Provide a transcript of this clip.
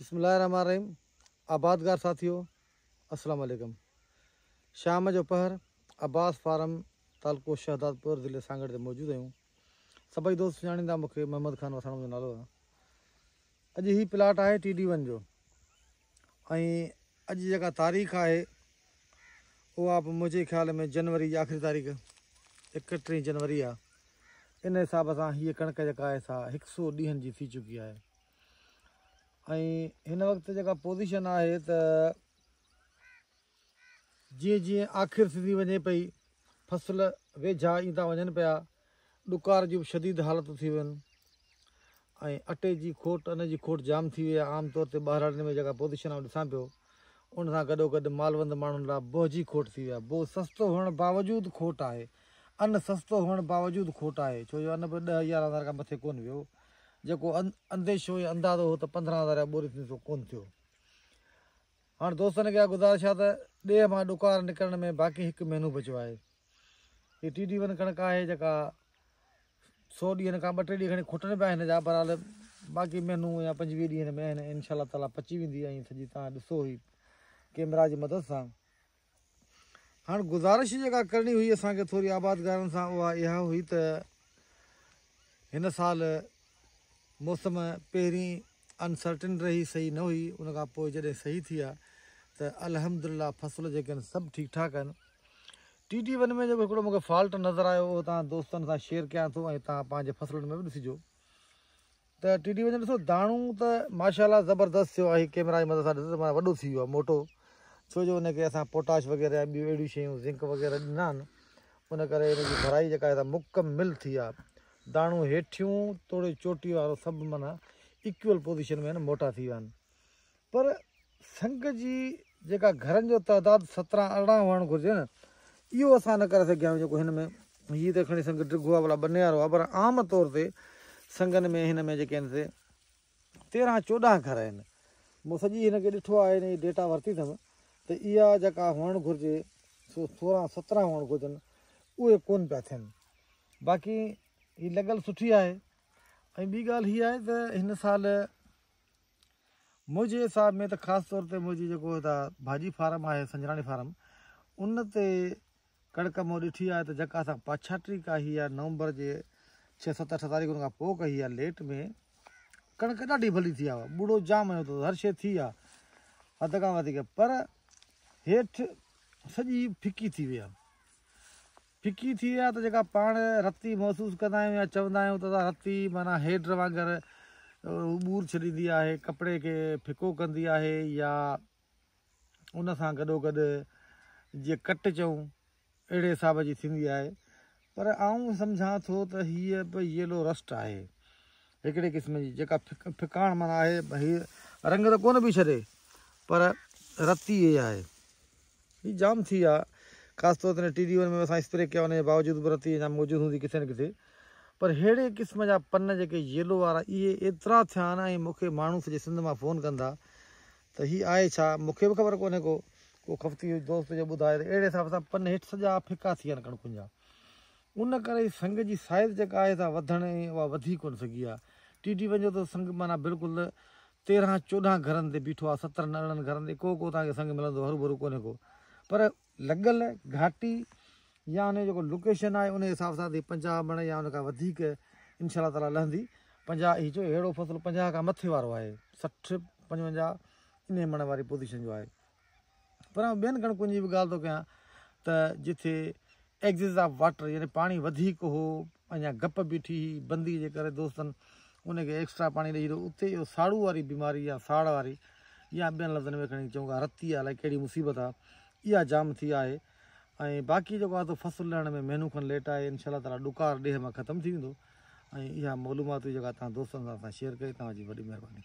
بسم الله الرحمن الرحيم آبادگار ساٿيو السلام عليڪم شام جو پهر عباس فارم تعلقو شهدادپور ضلعي سانگهڙ تي موجود آهيون سڀئي دوست سڃاڻيندا مون کي محمد خان وساڻ منهنجو نالو آهي اڄ هي پلاٽ آهي ٽي ڊي ون جو ۽ اڄ جيڪا تاريخ آهي اها به منهنجي خيال ۾ جنوري جي آخري تاريخ اڪٽيهه جنوري آهي ان حساب سان هيء ڪڻڪ جيڪا آهي سا هڪ سو ڏينهن جي ٿي چڪي آهي ۽ هن وقت جيڪا پوزيشن آهي ته جيئن جيئن آخر ٿيندي وڃي پئي فصل ويجها ايندا وڃن پيا ڏڪار جون شديد حالتون ٿي ويون ۽ اٽي جي کوٽ ان جي کوٽ جام ٿي وئي عام طور تي ٻاهراڙين ۾ جيڪا پوزيشن آؤں ڏسان پيو ان سان گڏو گڏ مالوند ماڻهن لاء بوه جي کوٽ ٿي ويا بوه سستو هئڻ باوجود کوٽ آهي ان سستو هئڻ باوجود کوٽ آهي ڇو جو ان به ڏهه يارهن هزار کان مٿي ڪون ويو جيڪو انديشو يا اندازو هو ته پندرهن هزار يا ٻوري ٿيندي سو ڪونه ٿيو. هاڻ دوستن کي اها گذارش آهي ته ڏيهه مان ڏڪار نڪرڻ ۾ باقي هڪ مهينو بچيو آهي. هي ٽي ڊي ون ڪڻڪ آهي جيڪا سو ڏينهن کان ٻه ٽي ڏينهن کڻي کٽن به آهن هن جا بهرحال باقي مهينو يا پنجويهه ڏينهن ۾ هن انشاء الله تعاليٰ پچي ويندي ۽ ٿجي تان ڏسو هي ڪيمرا جي مدد سان هاڻ گذارش جيڪا ڪرڻي هئي اسان کي ٿوري آبادگارن سان اها اها هئي ته هن سال موسم پهرين انسرٽن رهي صحيح نه هئي ان کان پوء جڏهن صحيح ٿي آهي ته الحمدلله فصل جيڪي آهن سڀ ٺيڪ ٺاڪ آهن ٽي ٽي ون ۾ جيڪو هڪڙو مونکي فالٽ نظر آيو اهو تان دوستن سان شيئر ڪيان ٿو ۽ تان پنهنجي فصلن ۾ به ڏسجو ته ٽي ڊي وڃي ڏسو داڻو ته ماشا الله زبردست ٿيو آهي ڪيمرا جي مدد سان ڏسو ته معنيٰ وڏو ٿي ويو آهي موٽو ڇو جو ان کي اسان پوٽاش وغيره يا ٻيون اهڙيون شيون زنڪ وغيره ڏنا آهن ان ڪري ان جي ڀرائي جيڪا آهي مڪمل ٿي آهي داڻو هيٺيون توڙي چوٽي وارو سڀ معنيٰ ايڪول پوزيشن ۾ موٽا ٿي ويا آهن پر سنگهه جي جيڪا گهرن جو تعداد سترهن ارڙهن هئڻ گهرجي نه اهو اسان نه ڪري سگهيا آهيون جيڪو هن ۾ هي ته کڻي سنگهه ڊگهو آهي ڀلا ٻنيار هئا پر عام طور تي سنگهن ۾ هن ۾ جيڪي آهن سي تيرهن چوڏهن گهر آهن مون سڄي هن کي ڏٺو آهي هن جي ڊيٽا ورتي اٿم ته اها جيڪا هئڻ گهرجي سو سورهن سترهن هئڻ گهرجن اهي ڪون پيا ٿين باقي هي لڳل سٺي آهي ۽ ٻي ڳالهه هي آهي ته هن سال منهنجي حساب ۾ ته خاص طور تي منهنجي جيڪو هتان ڀاڄي فارم آهي سنجراڻي فارم ان تي ڪڻڪ مون ڏٺي آهي ته جيڪا اسان پڇاٽي ڪاهي آهي نومبر جي ڇهه ست اٺ تاريخن کان پوء ڪهي آهي ليٽ ۾ ڪڻڪ ڏاڍي ڀلي ٿي آهي ٻوڙو جام آيو اٿو هر شيء ٿي آهي حد کان وڌيڪ پر هيٺ سڄي ڦڪي ٿي وئي آهي ڦڪي ٿي يا ته جيڪا پاڻ رتي محسوس ڪندا آهيون يا چوندا آهيون ته سا رتي معنيٰ هيڊ وانگر ٻور ڇڏيندي آهي ڪپڙي کي ڦڪو ڪندي آهي يا ان سان گڏو گڏ جي ڪٽ چئون اهڙي حساب جي ٿيندي آهي پر آئون سمجھان ٿو ته هيء به ييلو رسٽ آهي هڪڙي قسم جي جيڪا ڦڪاڻ معنيٰ آهي هي رنگ ته ڪونه پئي ڇڏي پر رتي هي آهي هي جام ٿي آ خاص طور تي ٽي ڊي ون ۾ اسان اسپري ڪيا ان جي باوجود به رتي اڃا موجود هوندي ڪٿي نه ڪٿي پر ههڙي قسم جا پن جيڪي ييلو وارا اهي ايترا ٿيا آهن ۽ مون کي ماڻهو سڄي سنڌ مان فون ڪن ٿا ته هي آهي ڇا مون کي به خبر ڪونهي ڪو ڪو خفتي دوست جو ٻڌائي ته اهڙي حساب سان پن هيٺ سڄا ڦڪا ٿي ويا آهن ڪڻڪن جا ان ڪري سنگ جي سائيز جيڪا آهي سا وڌڻ ۽ اها وڌي ڪونه سگهي آهي. ٽي ٽي وڃو ته سنگ معنيٰ بلڪل تيرهن چوڏهن گهرن تي بيٺو آهي سترن ارڙهن گهرن تي ڪو ڪو توهان کي سنگ ملندو هرو ڀرو ڪونهي ڪو پر لڳل گهاٽي يا ان جو جيڪو لوڪيشن آهي ان حساب سان تي پنجاهه مڻ يا ان کان وڌيڪ انشاء الله تعالٰي لهندي پنجاهه هي جو هيڙو فصل پنجاهه کان مٿي وارو آهي سٺ پنجونجاهه انهي مڻ واري پوزيشن جو آهي پر آئون ٻين ڪڻڪن جي به ڳالهه ٿو ڪيان ته جتي ايڪسز آف واٽر يعني پاڻي وڌيڪ هو اڃا گپ بيٺي هئي بندي جي ڪري دوستن ان کي ايڪسٽرا پاڻي ڏئي ڇڏيو اتي اهو ساڙو واري بيماري يا ساڙ واري يا ٻين لفظن ۾ کڻي چون ڪا رتي يا الائي ڪهڙي مصيبت آ اها جام ٿي آهي ۽ باقي جيڪو آتو فصل لهڻ ۾ مهنو کن ليٽ آهي انشاء الله تعاليٰ ڏڪار ڏيهه مان ختم ٿي ويندو ۽ اها معلومات جيڪا تان دوستن سان اسان شيئر ڪئي تان جي وڏي مهرباني